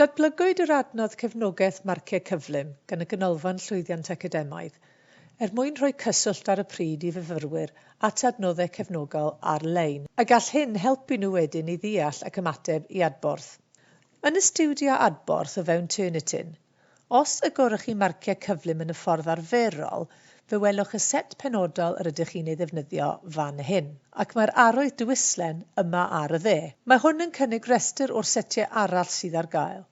Datblygwyd yr adnodd Cefnogaeth Marciau Cyflym gan y Ganolfan Llwyddiant Academaidd er mwyn rhoi cyswllt ar y pryd i fyfyrwyr at adnoddau cefnogol ar-lein, a gall hyn helpu nhw wedyn i ddeall ac ymateb i adborth. Yn y stiwdio adborth o fewn Turnitin, Os y gorwch chi marciau cyflym yn y ffordd arferol, fe welwch y set penodol yr ydych chi'n ei ddefnyddio fan hyn. Ac mae'r arwydd Dwyslen yma ar y dde. Mae hwn yn cynnig rhestr o'r setiau arall sydd ar gael.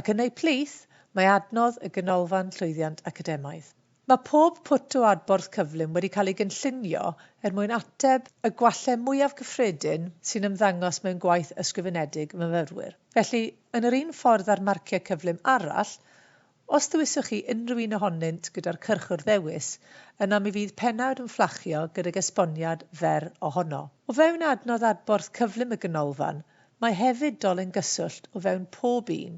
Ac yn eu plith, mae adnodd y Ganolfan Llwyddiant Academaidd. Mae pob pwt o adborth cyflym wedi cael ei gynllunio er mwyn ateb y gwallau mwyaf cyffredin sy'n ymddangos mewn gwaith ysgrifenedig myfyrwyr. Felly, yn yr un ffordd â'r marciau cyflym arall, os dewiswch chi unrhyw un ohonynt gyda'r cyrch wrth ddewis, yna mi fydd pennawd yn fflachio gydag esboniad fer ohono. O fewn adnodd adborth cyflym y Ganolfan, mae hefyd dolen gyswllt o fewn pob un,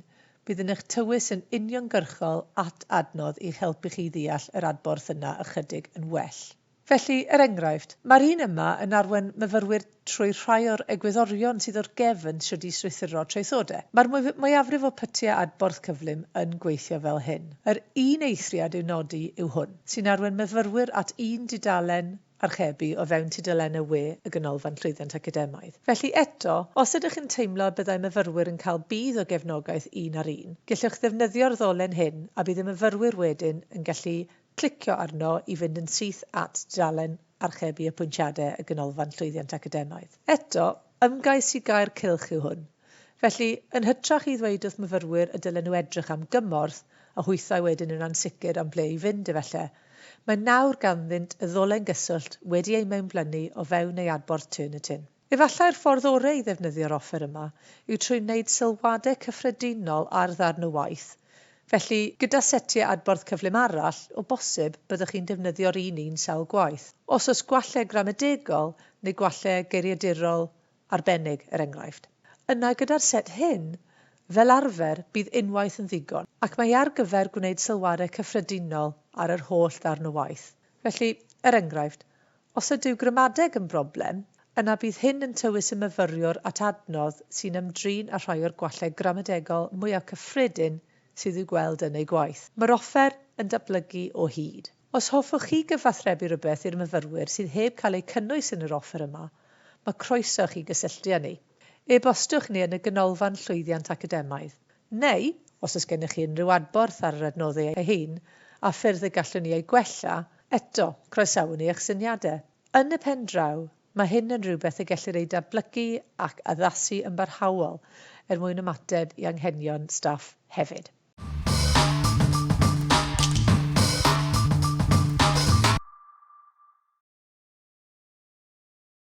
Bydd yn eich tywys yn uniongyrchol at adnodd i'ch helpu chi i ddeall yr adborth yna ychydig yn well. Felly, er enghraifft, mae'r un yma yn arwain myfyrwyr trwy rhai o'r egwyddorion sydd o'r gefn shwd i strwythuro traethodau. Mae'r mwyafrif o pytiau adborth cyflym yn gweithio fel hyn. Yr un eithriad i'w nodi yw hwn, sy'n arwain myfyrwyr at un dudalen archebu o fewn tudalennau we y Ganolfan Llwyddiant Academaidd. Felly, eto, os ydych yn teimlo y byddai myfyrwyr yn cael budd o gefnogaeth un ar un, gellwch ddefnyddio'r ddolen hyn a bydd y myfyrwyr wedyn yn gallu clicio arno i fynd yn syth at dudalen Archebu Apwyntiadau y Ganolfan Llwyddiant Academaidd. Eto, Ymgais i gau'r cylch yw hwn. Felly, yn hytrach i ddweud wrth myfyrwyr y dylen nhw edrych am gymorth, a hwythau wedyn yn ansicr am ble i fynd efelle, mae nawr ganddynt y ddolen gyswllt wedi ei mewnblynu o fewn ei adborth Turn It In. Efallai'r ffordd oreu i ddefnyddio'r offer yma yw trwy wneud sylwadau cyffredinol ar ddarn o waith, Felly, gyda setiau adborth cyflym arall, o bosib, byddwch chi'n defnyddio'r un un sawl gwaith. Os oes gwallau gramadegol neu gwallau geiriadurol arbennig, er enghraifft, yna gyda'r set hyn, fel arfer, bydd unwaith yn ddigon, ac mae ar gyfer gwneud sylwadau cyffredinol ar yr holl ddarn o waith. Felly, er enghraifft, Os ydyw gramadeg yn broblem, yna bydd hyn yn tywys y myfyriwr at adnodd sy'n ymdrin â rhai o'r gwallau gramadegol mwyaf cyffredin sydd i'w gweld yn eu gwaith. Mae'r offer yn datblygu o hyd. Os hoffwch chi gyfathrebu rhywbeth i'r myfyrwyr sydd heb cael eu cynnwys yn yr offer yma, mae croeso i chi gysylltu â ni. E-bostiwch ni yn y Ganolfan Llwyddiant Academaidd. Neu, os oes gennych chi unrhyw adborth ar yr adnoddau eu hun a ffyrdd y gallwn ni eu gwella, eto, croesawwn ni eich syniadau. Yn y pen draw, mae hyn yn rhywbeth y gellir ei datblygu ac addasu yn barhaol er mwyn ymateb i anghenion staff hefyd.